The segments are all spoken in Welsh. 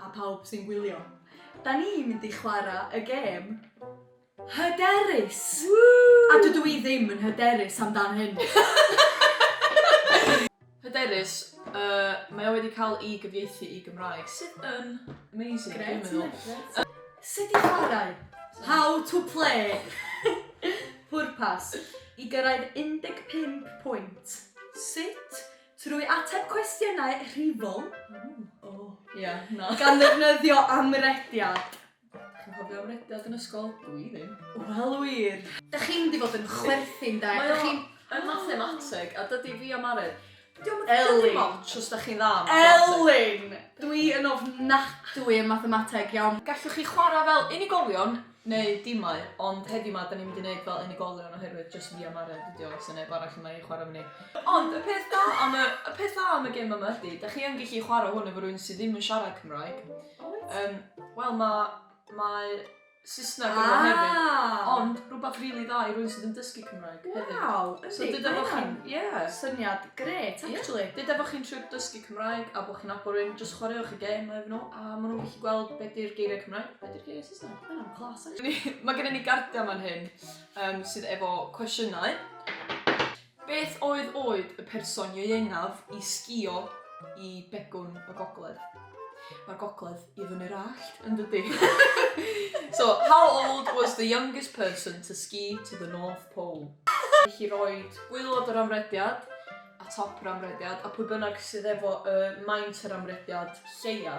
A phawb sy'n gwylio. Da ni'n mynd i chwarae y gêm hyderus! Woo! A dydw i ddim yn hyderus amdan hyn. Hyderus, yy, mae o wedi cael ei gyfieithu i Gymraeg, sydd yn amazing, dwi'n meddwl. Gret, mae, gret. Sut i chwarae? How to play! Pwrpas, i gyrraedd 15 pwynt. Sut Trwy ateb cwestiynau rhifol, Ia, na. gan ddefnyddio amrediad. Chi'n cofio amrediad yn ysgol? Dw i ddim. Wel wir! Dach chi'n mynd i fod yn chwerthin 'de, Mae o dach chi'n... yn mathemateg, a dydi fi a Mari... Dio'm yn... Elin! ...dim otsh os dach chi'n dda yn mathemateg. Elin! Dw i yn ofnadwy yn mathemateg, iawn. Gallwch chi chwarae fel unigolion Neu dimai, ond heddiw 'ma 'dan ni'n mynd i neud fel unigolion oherwydd jyst fi a Maren dydi o, so neb arall yma i chwarae efo ni. Ond y peth da am y y peth dda am y gêm yma ydi 'dach chi yn gellu chwarae hwn efo rywun sy ddim yn siarad Cymraeg. O wyt? Yym wel ma' mae Saesneg ynddo fo hefyd. Ah! Ond rwbath rili dda i rywun sydd yn dysgu Cymraeg hefyd. Waw, yndi, mae o'n... So deda bo' chi'n, ie. ...syniad grêt actually. Ie. Deda bo' chi'n trio dysgu Cymraeg a bo' chi'n nabod rywun, jyst chwaraewch y gêm efo nhw a ma' nhw'n gallu gweld be' 'di'r geiriau Cymraeg, be' 'di'r geiriau Saesneg. Mae gennym ni gardiau fan hyn um, sydd efo cwestiynau. Beth oedd oed y person ieuengaf i sgio i begwn y gogledd? Mae'r gogledd i fyny'r allt yn dydy. so, how old was the youngest person to ski to the North Pole? Felly roed gwylod yr amrediad a top yr amrediad a pwy bynnag sydd efo y maint yr amrediad lleia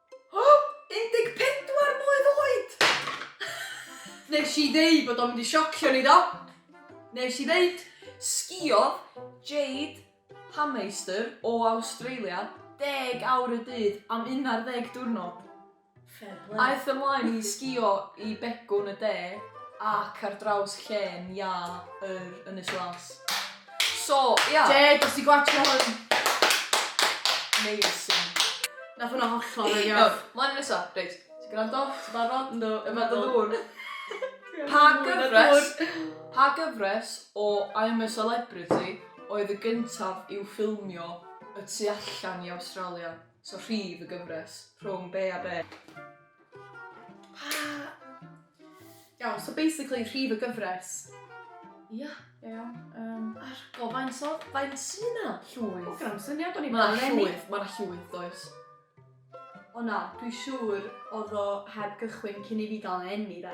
O! 14 mlwydd oed! Nes i ddeud bod o'n mynd i siocio ni do? Nes i ddeud! Sgïodd Jade Hameister o Awstralia deg awr y dydd am un ar ddeg diwrnod. Fair play. Aeth o mlaen i sgïo i Begwn y De ac ar draws llên iâ yr Ynys Las. So, ia. Deg os ti'n gwatsio hwn. Amazing. Nath hwnna hollol rili off. Iawn, mlaen i nesa. Reit, ti'n gwrando? Ti'n barod? Yndw. Yma dy ddŵr. Pa gyfres, pa gyfres o I'm a Celebrity oedd y gyntaf i'w ffilmio y tu allan i Awstralia? So rhif y gyfres, rhwng be a be? Iawn, so basically rhif y gyfres. Ia. Iawn. Um, Ar go faint o... Faint sy'n yna? o Llwyth. gynna'm syniad o'n i'n Mae yna llwyth, mae yna llwyth, does. O na, dwi siŵr oedd o heb gychwyn cyn i fi gael yn enni de.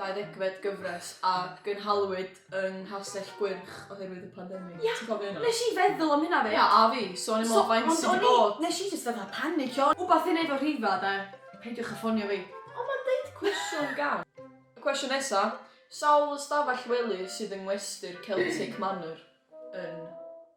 deuddegfed gyfres a gynhaliwyd yng Nghastell Gwyrch oherwydd y pandemig. Ia. Ti'n cofio hynna? Nes i feddwl am hynna 'fyd. Ia, a fi. So o'n i'n meddwl faint sydd wedi bod. Nes i jyst fatha panicio. Wbath i neud efo rhifa de? Peidiwch â ffonio fi. Ond ma'n deud cwestiwn gan. Y cwestiwn nesa, sawl ystafell wely sydd yng ngwesty'r Celtic Manor yn.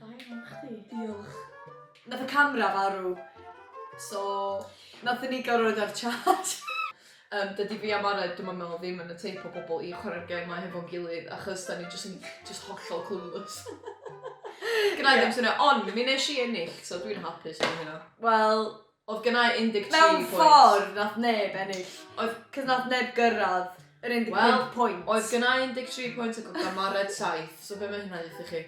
Da iawn chdi. Diolch. Nath y camera farw so nathon ni gorod ar charge. Yym dydi fi a Mari dwi'm yn meddwl ddim yn y teip o bobl i chwarae'r gêm 'ma hefo'n gilydd achos 'dan ni jyst yn jyst hollol clueless. Gennai ddim syniad ond mi nesh i ennill so dwi'n hapus am hynna. Wel Oedd gennai 13 pwynt. Mewn ffordd, nath neb ennill. Oedd... Cos nath neb gyrraedd yr 15 well, pwynt. Wel, oedd gennau 13 pwynt ac oedd Gamared 7, so be mae hynna ddeitha chi?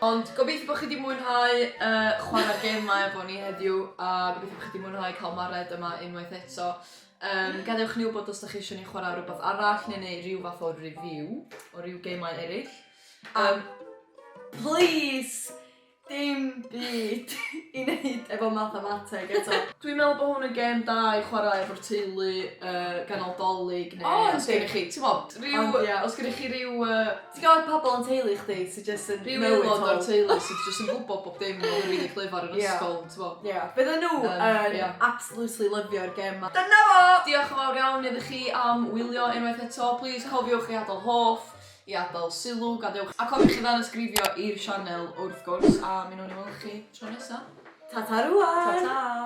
Ond gobeithio bod chi wedi mwynhau uh, chwarae'r gemau efo ni heddiw a gobeithio bod chi wedi mwynhau cael Mared yma unwaith eto. Um, gadewch ni wybod os da chi eisiau ni chwarae rhywbeth arall neu neu rhyw fath o review o rhyw gemau eraill. Um, please Dim byd i neud efo mathemateg eto. Dwi'n meddwl bod hwn yn gêm da i chwarae efo'r teulu, yy, ganol 'Dolig neu... O yndi. ...os gennych chi, t'mod, ryw... Ond ia. ...os gennych chi ryw yy... Ti'n gwbod pobol yn teulu chdi sy jyst yn know it all. Rhyw aelod o'r teulu sy jyst yn gwbod bob dim a oedd rili clyfar yn ysgol, t'mo'. Ia. Bydden nhw yn... Yym, ia. ...absolutely lyfio'r gêm 'ma. Dyna fo! Diolch yn fawr iawn iddo chi am wylio unwaith eto. Plîs cofiwch i adael hoff. I adael sylw, gadewch. A cofiwch i ddanysgrifio i'r sianel wrth gwrs, a mi nawn ni weld chi tro nesa. Ta ta rŵan! Ta ta!